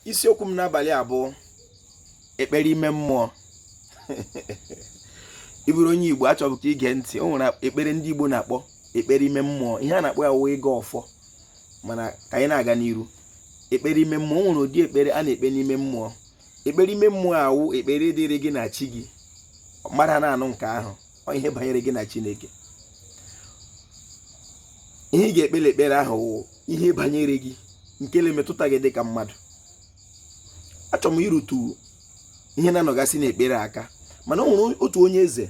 isiokwu m n'abalị a bụ ekpere ime mmụọ ị bụrụ onye igbo achọbụ ka i gee ntị o nwere ekpere ndị igbo na-akpọ ekpere ime mmụọ ihe a na-akpọ ya wụ ịgọ ọfọ mana ka anyị na-aga n'iru ekpere ime mmụọ o nwere ụdị ekpere a na-ekpe n'ime mmụọ ekpere ime mmụọ a wụ ekpere dịrị gị na chi gị mmadụ ana-anụ nke ahụ ọ ihe banyere gị na chineke ihe ị ga-ekpe n'ekpere ahụ wụ ihe banyere gị nke na-emetụta gị dịka mmadụ achọrọ m irutu ihe na-anọgasị n'ekpere aka mana o nwere otu onye eze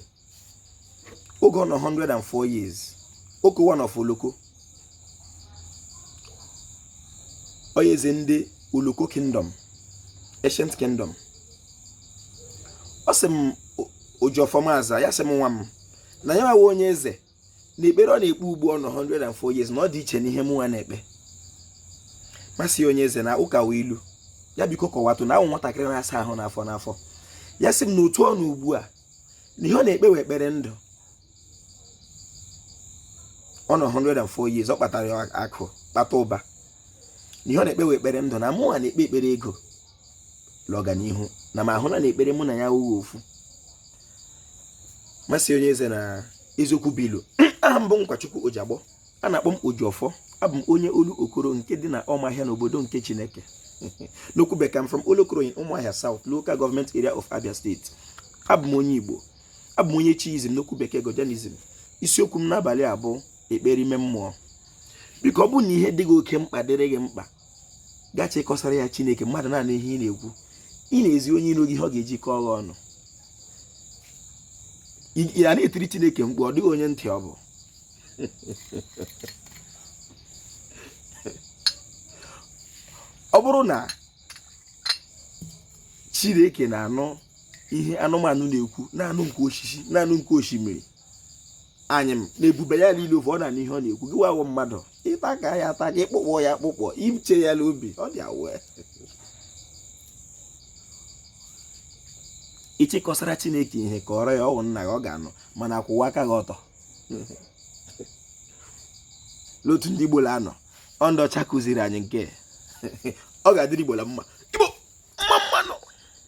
oge ọ nọ 104 years okowa of oloko onye eze ndị Oloko kingdom ancient kingdom ọ sị m Ojiọfọ m aza ya sị m nwa m na ya nwa wụ onye eze na ekpere ọ na-ekpe ugbu ọ nọ 104 years na ọ dị iche n'ihe mụ nwa na-ekpe m asị onye eze na ụka wụ ilu ya biko kọwatụ na awụ m nwatakịrị na-asa ahụ n'afọ n'afọ ya sị m na otu ọ nọ ugbu a na ihe ọ na-ekpe wụ ekpere ndụ ọ nọ 104 years ọ kpatara akụ kpata ụba na ihe ọ na-ekpe wụ ekpere ndụ na mụnwa na-ekpe ekpere ego na ọganihu na m ahụla na ekpere mụ na ya awụghị ofu m asị onye eze na eziokwu bụ ilu aha m bụ nkwachukwu ojiagbọ a na-akpọ m ojiọfọ abụ m onye olokoro nke dị na ọmahịa n'obodo nke chineke n'okwu bekee i'm from olokoro in ụmụahịa south local government area of abia state abụ m onye igbo abụ m onye chiism n'okwu bekee godianism isiokwu m n'abalị a bụ ekpere ime mmụọ biko ọ bụrụ na ihe dị gị oke mkpa dịrị gị mkpa ị ga-achọ ịkọsara ya chineke mmadụ na-anụ ihe ị na-ekwu ị na-ezi onye iro gị ihe ọ ga-eji kọọ gị ọnụ ana-etiri chineke mkpu ọ dịghị onye ntị ọ bụ ọ bụrụ na chineke na-anụ ihe anụmanụ na-ekwu na-anụ nke osisi na-anụ nke osimiri anyịm na ebube ya niile ovu ọ na-anụ ihe ọ na-ekwu gị nwa wụ mmadụ ị taka ya ataka ị kpụkpọ ya akpụkpọ i chee ya n'obi ọ dị ihe ị chọ ịkọsara chineke ihe kọọrọ ya ọ wụ nna gị ọ ga-anụ mana kwụwa aka gị ọtọ n'otu ndị Igbo la-anọ ọ ndị ọcha kụziri anyị nke ọ ga-adịrị igbo na mma igbo mma mmanụ